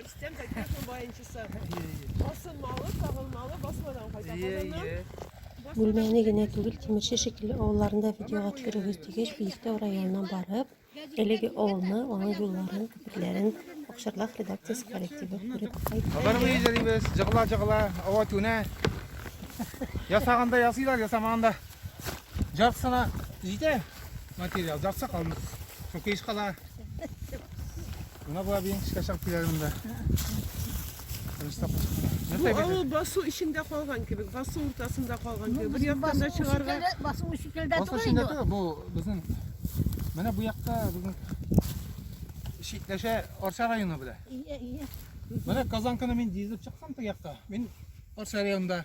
Рөстәм Зәкиевның баянчысы. Басылмалы, сагылмалы, басмадан кайта казаннан. Бүлмәне генә түгел, Тимерче шикелле авылларында видеога төшерегез дигәч, Биектау районына барып, әлеге авылны, аның юлларын, күперләрен Акчарлак редакциясе коллективы күреп кайтты. Алар мый җәлибез, җыгла җыгла, ава түнә. Ясаганда ясыйлар, ясамаганда. Жаксына җитә материал, жакса калмый. Соң кеш кала. Мына була бейін кішке шақ билерімді. Бу авыл басу эчендә калган кебек, басу уртасында калган кебек. Бер яктан да чыгарга. Басу шикелдә Басу эчендә түгел, бу безнең менә бу якта безнең чикләшә Арча районы белән. Ие, ие. Менә Казанканы мин дизелеп чыксам теге якта. Мин Арча районында